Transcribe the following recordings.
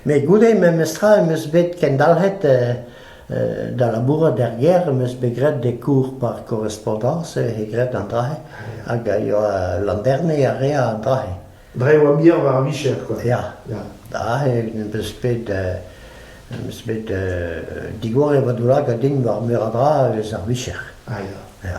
Met goude memestra em eus bet kendalc'het da labourat er gêr, em eus bet graet des cours par korrespondans, eo graet an dra-se, hag a yoa landerniñ a rea an dra-se. Dre ma mir war ar vicher quoi. Ya, aze em eus bet em eus bet digor e vadoulagad din war meur a dra eus ar vicher. Ya.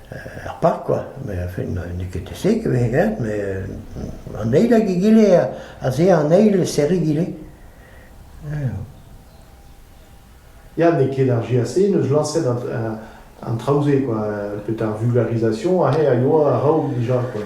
er park kwa, met n'eo ket deseget e vez graet met an eil hag egile az eo an eil serriñ egile. Ya, n'eo ket ar GAC n'eus lañset an traoù-se quoi, petra ar vulgarisation aze a yoa a-raok dija quoi.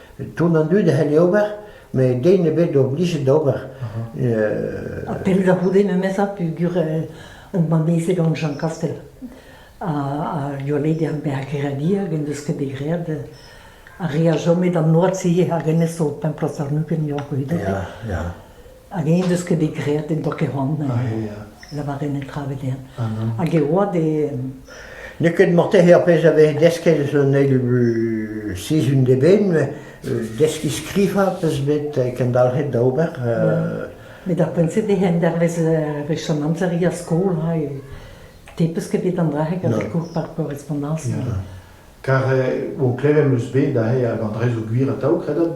Ton an dud a c'helle ober, met den ebet oblijet d'ober. Ha pell da c'houde memezañ peogwir on mamezed gant Jean Kastel ha Yolede ar Mergradi hag en deus ket bet graet a rea chom e an oad-se hag hennezh o templas àrnugent eo ar gwirionez. Ya, ya. Hag eñ deus ket bet graet en doa ket c'hoant lavaret netra evel-eñ. Hag e oa d'e... N'eo ket morteze ar pezh a vez desket eus an eil sizhun d'eben, deskiñ skrivañ peus bet kendalc'het da ober. Met ar poent-se eo endervez wech an amzer er skol, ha te peus ket bet an dra-se gant kour par korrespondans. Kar o klevet eus bet aze hag an drez o gwir atav, kredot,